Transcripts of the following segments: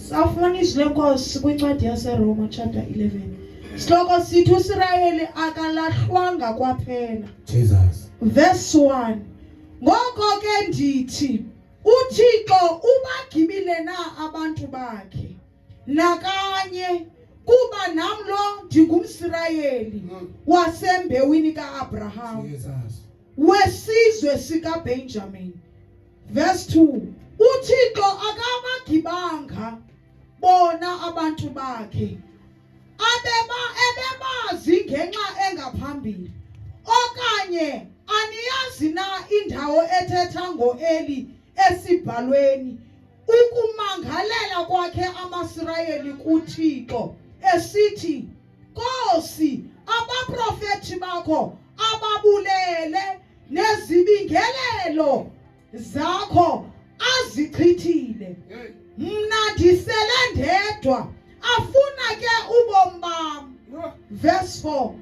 sawufumana izwi lenkosi kwincwadi yaseroma chapter 11 sihloko sithi usirayeli akalahlwanga kwaphela jesus verse 1 ngoko ke ndithi uthixo ubagibile na abantu bakhe nakanye kuba nam lo ndingumsirayeli hmm. wasembewini kaabraham jesus wesizwe sikaBenjamin. Verse 2. UThixo akabagibanga bona abantu bakhe abeba ebebazi ngenxa engaphambili okanye aniyazi na indawo ethetha ngoEli esibhalweni ukumangalela kwakhe amaSirayeli kuThixo esithi Nkosi, abaprofeti bakho ababulele nezibingelelo zakho azichithile. Mna ndisele ndedwa afuna ke ubomi bam. Verse 4.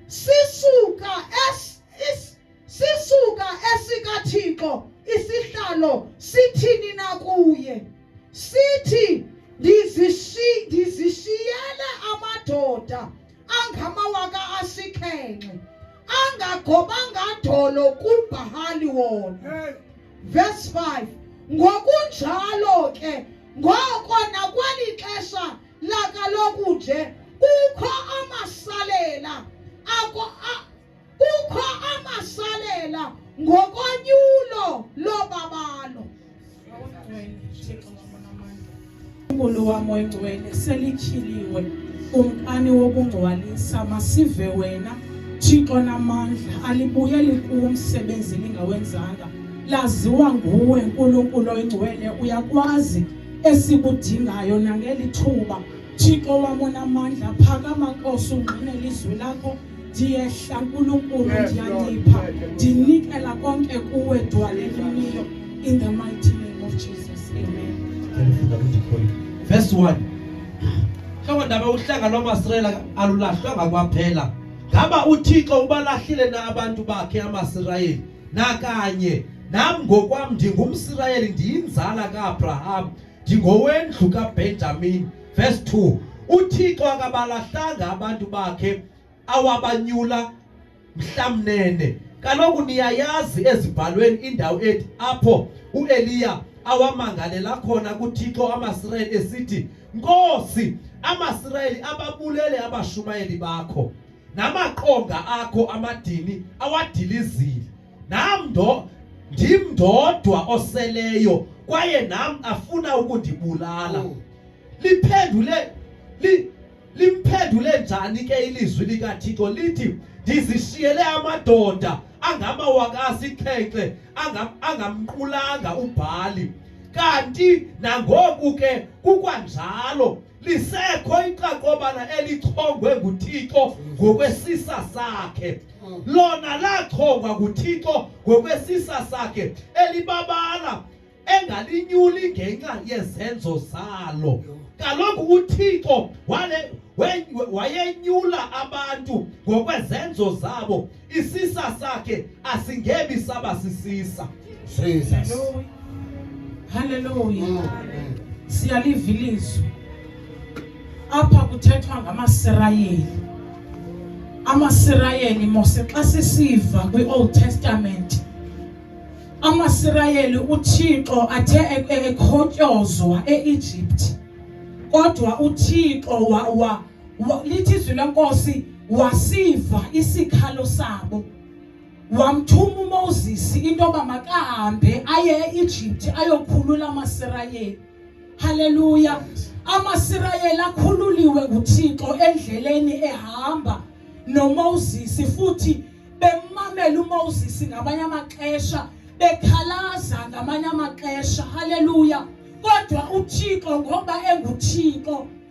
Sisuka es sisuka esikathixo isihlalo sithini na kuye sithi ndizishiyele amadoda angamawaka asikhenxe angagobanga dolo kubhahali wona verse 5 ngokunjalo ke ngoko nakweli xesha lakaloku nje kukho amasalela kukho amasalela ngokonyulo lobabalo uNkulunkulu wami oyingcwele selityhiliwe kumkani wokungcwalisa masive wena Thixo namandla alibuyeli kumsebenzi lingawenzanga laziwa nguwe Nkulunkulu oyingcwele uyakwazi esikudingayo nangeli thuba Thixo wam onamandla phakama Nkosi ungqine lizwi lakho ndiyehla nkulunkulu ndiyanipha ndinikela konke kuwe dwalelimiyo in the mighty name of jesus amen verse 1 hlobo ndaba uhlanga lwamasirayela alulahlwanga kwaphela ngaba uthixo ubalahlile na abantu bakhe amasirayeli nakanye nam ngokwam ndingumsirayeli ndiyinzala kaabraham ndingowendlu kabenjamini Verse 2. UThixo akabalahlanga abantu bakhe awabanyula mhlamnene. Kaloku niyayazi ezibhalweni indawo ethi apho uEliya awamangalela khona kuThixo amaSirayeli esithi, Nkosi, amaSirayeli ababulele abashumayeli bakho namaqonga akho amadini awadilizile. Nam ndo ndim ndodwa oseleyo kwaye nam afuna ukundibulala. Oh. Liphendule li, limphendule njani ke ilizwi likaThixo lithi ndizishiyele amadoda angamawaka asixhenxe angamqulanga uBhali kanti nangoku ke kukwanjalo lisekho iqaqobana elichongwe nguThixo ngokwesisa sakhe lona lachongwa nguThixo ngokwesisa sakhe elibabala engalinyuli ngenxa yezenzo zalo kaloku uThixo wale wayenyula abantu ngokwezenzo zabo isisa sakhe asingebi saba sisisa Jesus haleluya mm, mm. siyaliva ilizwi apha kuthethwa ngamasirayeli amasirayeli mose xa sisiva kwi-old testament amasirayeli uthixo athe e-, e-, ekhotyozwa e-egypt kodwa uthixo wa, wa lithi izwi lenkosi wasiva isikhalo sabo wamthuma uMoses into yoba makahambe aye eEgypt ayokhulula amaSirayeli haleluya amaSirayeli akhululiwe nguThixo endleleni ehamba noMoses futhi bemamela uMoses ngamanye amaxesha bekhalaza ngamanye amaxesha haleluya kodwa uThixo ngoba enguThixo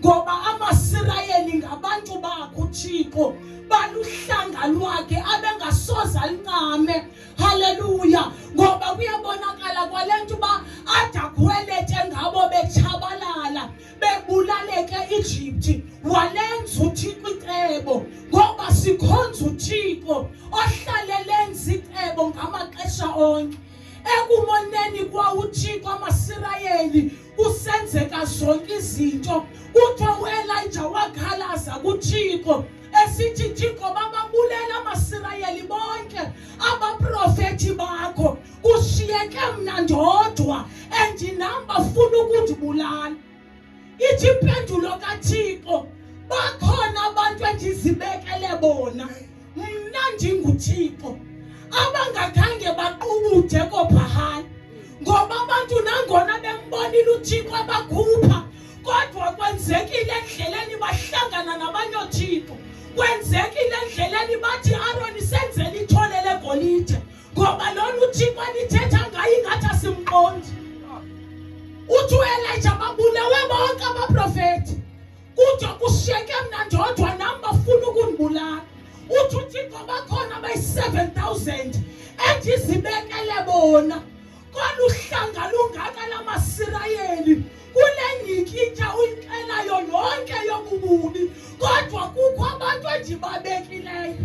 ngoba amasirayeli ngabantu bakho uthixo baluhlanga lwakhe abengasoze alincame haleluya ngoba kuyabonakala kwale nto uba adakhwelete ngabo betshabalala bebulaleke ijipti walenza uthixo icebo ngoba sikhonza uthixo ohlale lenza icebo ngamaxesha onke ekumoneni kwawuthixo amasirayeli kusenzeka zonke izinto kuthiwa uelija wakhalaza kuthixo esithi thixo bababulela amasirayeli bonke abaprofethi bakho kushiyeke mna ndodwa and nam bafuna ukundibulala ithi impendulo kathixo bakhona abantu endizibekele bona mna ndinguthixo abangakhange baqubuthe kophahana ngoba abantu nangona bembonile uthixo abakhupha kodwa kwenzekile endleleni bahlangana nabanye oothixo kwenzekile endleleni bathi aroni senzele ithole legolide ngoba lona uthixo anithetha ngayo ingathi asimqondi uthi uelija babulewe bonke abaprofeti Kude kushiyeke mna ndodwa nam bafuna ukundibulala. Uthi uThixo bakhona abayi-7000 endizibekele bona. Kolu hlanga lungaka lamaSirayeli kule nyikitya uyixelayo yonke yobububi kodwa kukho abantu endibabekileyo.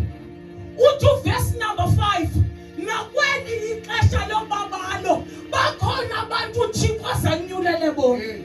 Uthi uvesi number 5 nakweli ixesha lobabalo bakhona abantu uThixo azanyulele bona. Mm.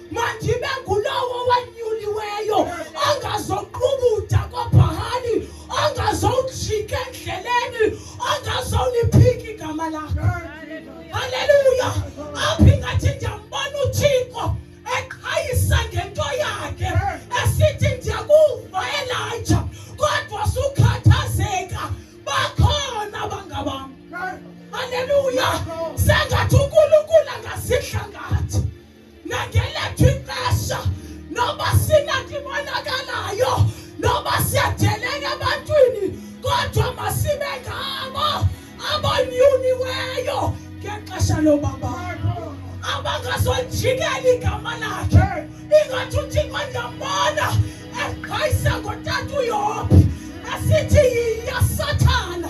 Mandibe ngulowo wanyuliweyo ongazoqubuda kobhahani, ongazowujika endleleni, ongazowuliphika igama lakho. Haleluya! Apho ingathi ndiyambona uThixo eqhayisa ngento yakhe esithi ndiyakuva Elija kodwa sukhathazeka bakhona abangabam. Haleluya! Sengathi ukulukula ngasidla ngathi. nangelethu ixesha noba sinanto ibonakalayo noba siyadeleka ebantwini kodwa masibe ngabo abonyuniweyo ngexesha lobaba abangazonjikela igama lakhe ingathi uthixo ndiyambona eqhayisa ngotata uyophi esithi yiya sathana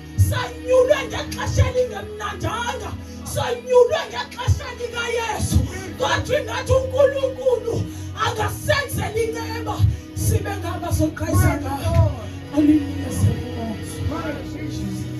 sanyulwe ngexesha elingemnandanga sanyulwe ngexesha likayesu kwathi ngathi unkulunkulu angasenzela inceba sibe ngaba soqhayisa ngayo